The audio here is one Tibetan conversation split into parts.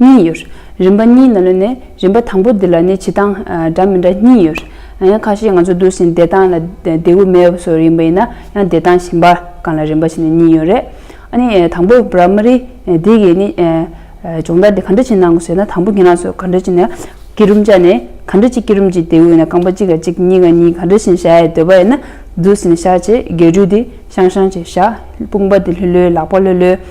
གཉིས་ཡོད། རིམ་པ་གཉིས་ནང་ལོན་ནས་རིམ་པ་དང་པོ་འདི་ལ་ནི་བྱེད་སྟངས་འདྲ་མི་འདྲ་གཉིས་ཡོད། ཡང་ཁ་ཤས་ང་ཚོ་བསྡུར་ཟིན་བདེ་ཐང་ལ་བདེ་བོ་མེ་བ་སོགས་རིམ་པ་ཡིན་ན་ཡང་བདེ་ཐང་ཞིང་པ་གང་ལ་རིམ་པ་བྱེད་ནས་གཉིས་ཡོད་རེད། ཨ་ནི་དང་པོ Primary འདི་གིས་ནི་སྦྱོང་བརྡར་འདི་ག་འདྲ་བྱེད་ནང་གོ་ཟེར་ན་དང་པོ་གྱི་ནང་སོ་ག་འདྲ་བྱེད་ནས་སྐྱི་རུམ་བཅའ་ནས་ག་འདྲ་གཅིག་སྐྱི་རུམ་གཅིག་བདེ་བོ་ཡིན་ན་རྐང་པ་གཅིག་ལ་གཅིག་གཉིས་ཀ་གཉིས་ག་འདྲ་བཞིན་བཞག་ཡས་འདོད་པ་ཡིན་ན་བསྡུར་ཟིན་བཞག་བྱས་རྒྱས་འབྲུ་འདི་ཤང་ཤང་བྱས་བཞག་དཔུང་པ་འདི་ལྷོད་ལྷོད་ལག་པ་ལྷོད་ལྷོད།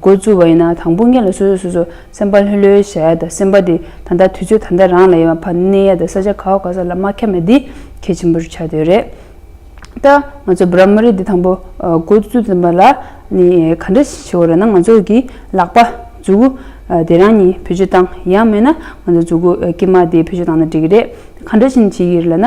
འགོ་བཙུགས་པ་ཡིན་ན་དང་དཔུང་གཉེན་ལ་སོ་སོས་སོ་སོར་སེམས་པ་ལྷོད་ལྷོད་བྱ་ཡ་དང་སེམས་པ་དེ་ད་ལྟ་དུས་ཚོད་ད་ལྟ་རང་ལ་ཡོད་པ་ཕར་གནས་ཡ་དང་ས་ཆ་ག་བ་ག་ས་ལ་མ་ཁྱབ་ན་དེ་གལ་ཆེན་པོ་རུ་ཆགས་འདོད་རེད་ད། ང་ཚོ་བོད་རབ་མ་རིག་འདི་དང་པོ་འགོ་བཙུགས་ཟིན་པ་ལ་ནི་ག་འདྲ་ཞིག་བྱེད་དགོས་རེད་ན་ང་ཚོ་གི་ལག་པ་མཛུ་གུ་དེ་རང་ཉིད་བེད་སྤྱོད་བཏང་ཡ་མེད་ན་ང་ཚོ་མཛུ་གུ་དཀྱིལ་མ་དེ་བེད་སྤྱོད་བཏང་ན་འགྲིག་གི་རེད་ག་འདྲ་བཞིན་བྱེད་ཀྱི་རེད་ལ་ན།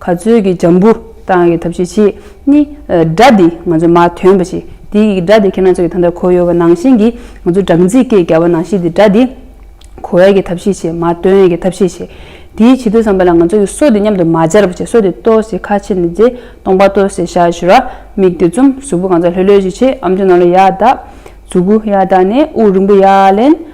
ག་ཚོད་ཀྱི་འཇམ་བུ་བཏང་གི་ཐབས་ཤེས་ཆེད་ནི། སྒྲ་འདི་ང་ཚོ་མ་ཐོན་པ་ཞིག་དེའི་གིས་སྒྲ་དེ་ཁྱེད་རང་ཚོ་གི་ཐང་ཐར་ཁོ་ཡོད་པ་ནང་བཞིན་གྱི་ང་ཚོ་སྦྲང་རྩིས་སྐད་རྒྱག་པ་ནང་བཞིན་དེ་སྒྲ་འདི་གོ་ཡས་ཀྱི་ཐབས་ཤེས་ཆེད་མ་ཐོན་ཡས་ཀྱི་ཐབས་ཤེས་ཆེད་དེའི་བྱེད་དུས་བསམ་པ་ལ་ང་ཚོ་གི་སོ་དེ་མཉམ་དུ་མ་སྦྱར་བ་ཆེད་སོ་དེ་ལྟོ་ཟེ་ཁ་ཕྱེ་ནས་རྫས་སྟོང་པ་ལྟོ་ཟེ་ཤ་ཞུ་ར་མིག་དེ་བཙུམ་གཟུགས་པོ་གང་སར་ལྷོད་ལྷོད་ཅིག་བྱེད་ཨམ་ཆུ་ནང་ལ་ཡར་ལྡག་གཟུགས་པོ་ཡར་ལྡག་ནས་དབུགས་རིང་པོ་ཡར་ལེན་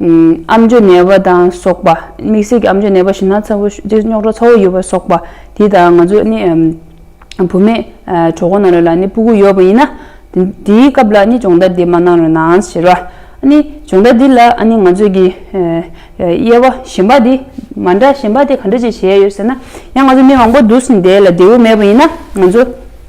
ཨམ་ཅོ་ནད་པ་དང་སོགས་པ། དམིགས་བསལ་གྱི་ཨམ་ཅོ་ནད་པ་ཞིག་ན་ཚ་བོ་སྟེ་རྙོག་གྲ་ཚ་བོ་ཡོད་པ་སོགས་པ་དེ་དང་ང་ཚོ་ནི་བུ་མེད་གྲོགས་པོ་ན་རོ་ལ་ནི་སྤུ་གུ་ཡོད་པ་ཡིན་ན། དེའི་སྐབས་ལ་ནི་སྦྱོང་བརྡར་འདི་མ་གནང་རུང་ནའང་ཟེར་བ། སྦྱོང་བརྡར་འདི་ལ་ནི་ང་ཚོས་ཀྱི་དབྱེ་བ་གཞན་པ་དེ་མ་འདྲ་གཞན་པ་དེ་ག་འདྲ་ཅིག་བྱས་ཡོད་ཟེར་ན། ཡང་ང་ཚོ་མི་མང་པོ་འདུ་ཟིན་དེ་ལ་འབྲས་བུ་མེད་པ་ཡིན་ན་ང་ཚོ།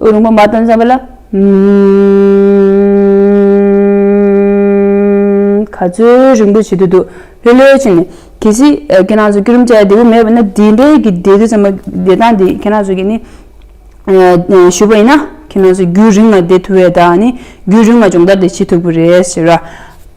ཨུ་རུ་ངོ་མ་དང་འཛམ་བུ་ལ། ག་ཚོད་རིང་པོ་བྱེད་དུ་འདུག་ལྷོད་ལྷོད་བྱས་ནས། གལ་སྲིད་ཁྱེད་རང་ཚོ་སྐྱུ་རུམ་བཅའ་བདེ་བོ་མེད་པ་ན་དེ་འདྲའི་གི་བདེ་སྡུག་ཙམ་མ་བདེ་ཐང་འདི་ཁྱེད་རང་ཚོ་གི་ནི། ཞུས་པ་ཡིན་ན་ཁྱེད་རང་ཚོ་རྒྱུན་རིང་ལ་བསྡད་ཐུབ་བས་ད་ནི་རྒྱུན་རིང་ལ་སྦྱོང་བརྡར་དེ་བྱེད་ཐུབ་ཀི་རེད་ཟེར།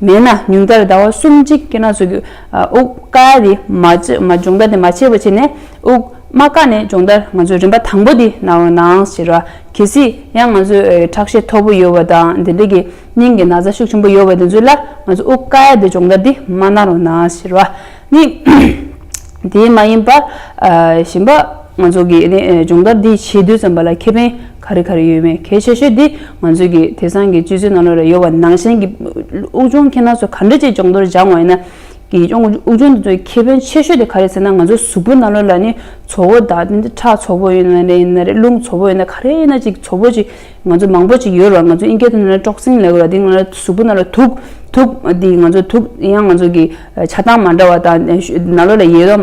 མེད་ན་ཉུང་མཐར་ཟླ་བ་གསུམ་གཅིག་སྐྱེལ་ན་བཟོ་རྒྱུ། དབུགས་དཀའ་དེ་མ་སྦྱོང་ད་དེ་མ་བྱས་པ་བྱས་ནས་དབུགས་མ་དཀའ་ནས་སྦྱོང་ད་ང་ཚོའི་རིམ་པ་དང་པོ་འདི་ན་འོ་ནའང་ཟེར་བ་གལ་སྲིད་ཡང་ང་ཚོས་ཁྲག་ཤེད་མཐོ་པོ་ཡོད་བ་དང་དེ་འདྲ་གི་སྙིང་གི་ན་བཟའ་ཤུགས་ཆེན་པོ་ཡོད་བ་དེ་ཚོའི་ལ་ང་ཚོ་དབུགས་དཀའ་ཡ་དེ་སྦྱོང་ད་འདི་མ་གནང་རོགས་གནང་ཟེར་བ་ནི་དེ་མ་ཡིན་པ་གཞན་པ་ང་ཚོ་གི་སྦྱོང་ད་འདི་བྱེད་དུས་ཙམ་པ་ལ་ཁེ་ཕན་ག་རེ་ག་རེ་ཡོད་མེད་གལ་ཆེ་ཤོས་དེ་ང་ཚོས་ཀྱི་དེ་སང་གི་སྤྱི་ཚོའི་ནང་ལོ་རེ་ཡོལ་བ་ནང་བཞིན་གྱི་དབུགས་འབྱུང་ཁྱེད་རྣམས་ཚོ་ག་འདྲ་ཅིག་སྦྱོང་དོར་སྦྱང་བ་ཡིན་ན། གྱི་སྦྱོང་དབུགས་འབྱུང་དེ་ཚོའི་ཁེ་ཕན་ཆེ་ཤོས་དེ་ག་རེ་ཟེར་ན་ང་ཚོའི་གཟུགས་པོའི་ནང་ལོ་ལ་ནི་ཚོ་བོ་དག་འདི་འདྲ་ཁྲག་ཚོ་བོ་ཡིན་ན་ཡིན་ན་རེད་རླུང་ཚོ་བོ་ཡིན་ན་ག་རེ་ཡིན་ན་ཅིག་ཚོ་བོ་ཅིག་ང་ཚོ་མང་པོ་ཅིག་ཡོད་རེད་བ་ང་ཚོའི་ཨིན་སྐད་དུ་ནི་ཏྲོག་སིན་ལེགས་རེད་དེ་ང་ལ་གཟུགས་པོ་ནང་ལ་དུག་དུག་འདི་ང་ཚོ་དུག་ཡང་ང་ཚོ་གི། བྱ་སྟངས་མ་འདྲ་བ་དང། ན་ལོ་ལ་ཡོད་དམ་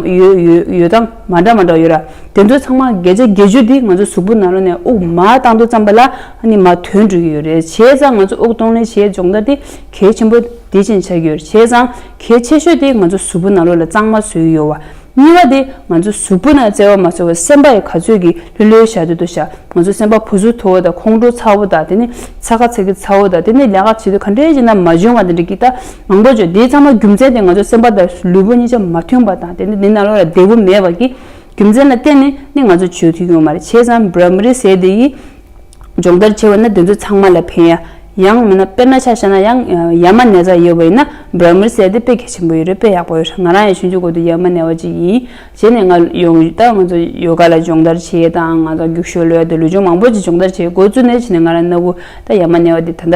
ཡོད་སྟངས་མ་འདྲ་མ་འདྲ་ཡོད་ར། དེ་ཚོ་ཚང་མ་འགལ་བྱ་འགལ་བྱུས་འདི་ང་ཚོ་གཟུགས་པོ་ན་ལོ་ནས་དབུགས་མ་བཏང་དུ་བརྩམས་པ་ལ་ནི་མ་དོན་འགྲུལ་གྱི་ཡོད་རེད་བྱས་ཙང་ང་ཚོ་དབུགས་གཏོང་ལེན་བྱེད་སྦྱོང་ད་དེ་གལ་ཆེན་པོ་དེ་བཞིན་ཆགས་ཀྱི་ཡོད་རེད་བྱས་ཙང་གལ་ཆེ་ཤོས་དེ་ང་ཚོ་གཟུགས་པོ་ན་ལོ་ལ་གཙང་མ་བཟོས་ཡོད་བ། གཉིས་པ་དེ་ང་ཚོ་གཟུགས་པོ་ན་བརྩེ་བ་མ་ཚོར་བའི་སེམས་པ་ཡི་ག་ཚོད་ཀྱིས་ལྷོད་ལྷོད་བཞག་དུས་དུ་བཞག་ང་ཚོ་སེམས་པ་བུ་གཟུགས་མཐོ་བོ་དང་ཁོང་ཁྲོ་ཚ་བོ་དང་དེ་ནི་ཚ་ཁ་ཚ་གི་ཚ་བོ་དང་དེ་ནི་ལས་ཀ་བྱེད་དུས་ག་འདྲའི་བྱས་ན་མ་འཇོན་བ་དང་འདྲ་གི་ད་མང་པོ་བྱུང་དེའི་ཚང་མ་རྒྱུ་མཚན་དེ་ང་ཚོ་སེམས་པ་དང་ལུས་པོ་གཉིས་ཆ་མ་མཐུན་པ་དང་དེ་ནི་དེ་ན་བློ་ལ་བདེ་བོ་མེད་པ་གི་རྒྱུ་མཚན་ལ་བརྟེན་ནས་ནི་ང་ཚོ་བྱོས་ཐུས་ཡོང་མ་རེད་བྱས་ཙང་བར་མི་རེད་ཟེར་དེ་ཡིས། སྦྱོང་བརྡར་བྱེད་པ་ནི་དེ་ཚོ་ཚང་མ་ལ་ཕན། ཡང་མིན་ན་དཔེར་ན་ཆ་བྱས་ན་ཡང་ཡ་མ་ནེ་ཙག་ཡོད་པ་ཡིན་ན་འབར་མིར་བསད་དེ་དཔེ་གལ་ཆེན་པོ་ཡོད་རེད་དཔེ་ཡག་པོ་ཡོད་རེད་ང་རང་ཡང་ཞུན་ཆུ་འགོ་དུས་ཡ་མ་ནེ་བ་ཅིག་ཡིན་བྱས་ནས་ང་ཡོང་ཡུལ་ད་ང་ཚོ་ཡོ་ག་ལ་སྦྱོང་བརྡར་བྱས་དང་ང་ཚོ་རྒྱུགས་ཤོར་ལོས་ཡོད་དེ་ལུས་སྦྱོང་མང་པོ་ཅིག་སྦྱོང་བརྡར་བྱས་འགོ་བཙུགས་ནས་བྱས་ནས་ང་རང་གནའ་བོའི་ད་ཡ་མ་ནེ་བ་དེ་ད་ལྟ